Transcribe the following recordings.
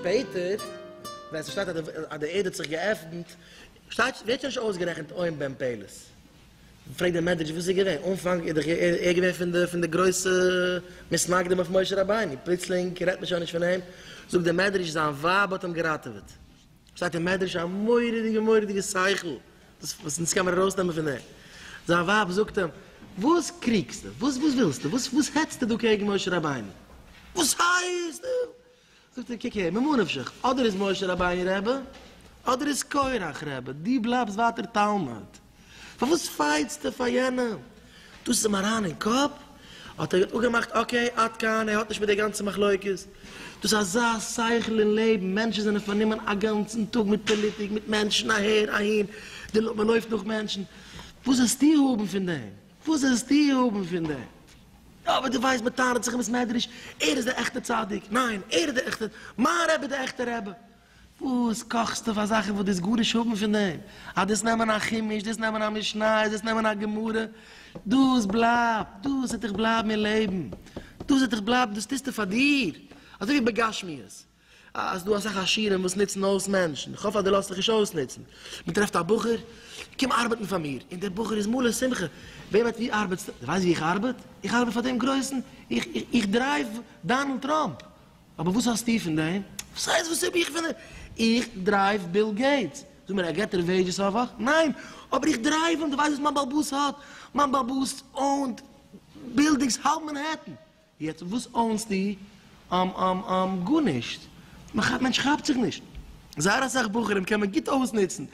שפעטער ווען ס'שטייט אז די ערד האט זיך געעפנט שטייט ווערט שוין נישט אויסגערעכנט אוים בן פלת. פרעגט דער מדרש וואס איז געווען אנפאנג איז דאך ער געווען פון די פון די גרויסע מתנגדים אויף משה רבינו פלוצלינג רעדט מען שוין נישט פון אים זאגט דער מדרש זיין ווייב האט אים געראטעוועט. שטייט אין מדרש א מורא'דיגע מורא'דיגע שכל, דאס וואס אונז קען מען ארויסנעמען פון דעם, זיין ווייב זאגט אים, וואס קריגסטו? וואס וואס ווילסטו? וואס וואס העצטו דא קעגן משה רבינו? וואס הייסט? זאגט ער, קוק הער, ממה נפשך, אדער איז משה רבינו רעבע, אדער איז קרח רעבע, דו בלייבסט ווייטער תלמיד. פארוואס פייטסטו פאר יענעם? דאס איז אים אריין אין קאפ, האט ער אפגעמאכט אקעי עד כאן, ער האט נישט מיט די גאנצע מחלוקת. דאס איז אזא שכל אין לעבן, מענטשן זענען פארנומען א גאנצן טאג מיט פאליטיק, מיט מענטשן אהער אהין, מען לויפט נאך מענטשן, וואס זעסטו האבן פון דעם? וואס זעסטו האבן פון דעם? יא אבער דו ווייסט מען טענה'ט זיך אין בית מדרש, ער איז די עכטע צדיק, ניין ער איז די עכטע, מיין רבי איז די עכטע רבי. וואס קאכסטו פאר זאכן וואס דאס גארנישט האבן פון דעם, אז דאס נעמען א חומש, דאס נעמען א משניות, דאס נעמען א גמרא, דאס בלייבט, דאס וועט דיך בלייבן אין לעבן, דאס וועט דיך בלייבן, דאס טוסטו פאר דיר, אזוי ווי בגשמיות, אז דא אסאך עשירים וואס נוצן אויס מענטשן, איך האף אז דו לאזט דיך נישט אויסנוצן, מען טרעפט א בחור, קום ארבעטן פאר מיר, און דער בחור איז מלא שמחה, ווער וועט ווי ארבעטסטו, דו ווייסט ווי איך ארבעט, איך ארבעט פאר דעם גרויסן, איך דרייוו דאנעלד טראמפ, אבער וואס האסטו פון דעם? וואס הייסט וואס האב איך פון דעם? איך דרייוו ביל געיטס. זאג מיר, ער געט דיר וועידזשעס א וואך? ניין. אבער איך דרייוו אים. דו ווייסט וואס מיין בעל באס האט? מיין בעל באס אוינט בילדינגס האלב מענהעטן. יעצט וואס אוינסטו? גארנישט. מענטש כאפט זיך נישט. זייער אסאך בחורים קען מען גוט אויסנוצן.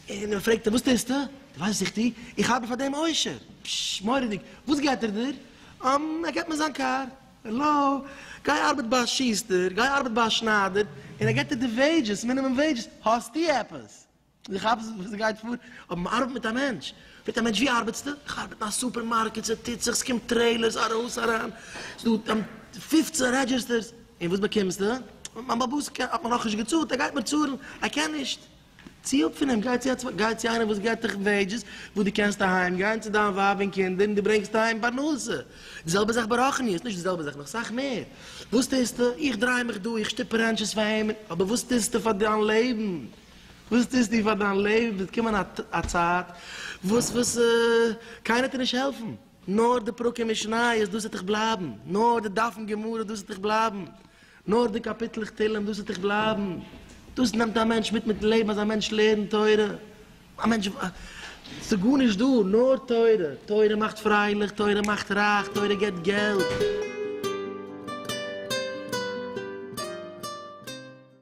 און מען פרעגט אים, וואס טוסטו? דו ווייסט וואס איך טו? איך ארבעט פאר דעם עושר. פשש, מורא'דיג. וואס געט ער דיר? ער געט מיר זיין קאר. העלא, גיי ארבעט ביי א שוסטער, גיי ארבעט ביי א שניידער, און ער געט דיר די וועידזשעס, מינימום וועידזשעס, האסטו עפעס? דו כאפסט וואס דא גייט פאר? אבער מען ארבעט מיט א מענטש, פרעגט א מענטש ווי ארבעטסטו? איך ארבעט אין א סופערמארקעט, ס'טוט זיך, ס'קומט טרעילערס ארויס אריין, ס'דא פֿופֿצן רעדזשיסטערס, און וואס באקומסטו? מיין באבוס האט מיר נאכנישט געצאלט, ער גייט מיר צאלן, ער קען נישט. צי אפ פון אים גיי צו א צווייטן, גיי צו איינעם וואס געבט דיך וועידזשעס וואס דו קענסט אהיים גיין צו דיין ווייב און קינדער און דו ברענגסט אהיים פרנסה, די זעלבע זאך ברחניות, נישט די זעלבע זאך נאך סאך מער, וואס טוסטו? איך דריי מיך דא, איך שטופ רענטשעס פאר אים, אבער וואס טוסטו פאר דיין לעבן? וואס טוסטו פאר דיין לעבן? וועט קומען א צייט וואס וואס קיינער וועט דיר נישט העלפן. נאר די פרקים משניות דאס וועט איך בלייבן, נאר די דפים גמרא דאס וועט איך בלייבן, נאר די קאפיטלעך תהלים דאס וועט איך בלייבן, דאס נעמט א מענטש מיט מיטן לעבן אז א מענטש לערנט תורה, א מענטש ס'גארנישט דא נאר תורה, תורה מאכט פרייליך, תורה מאכט רייך, תורה געבט געלט.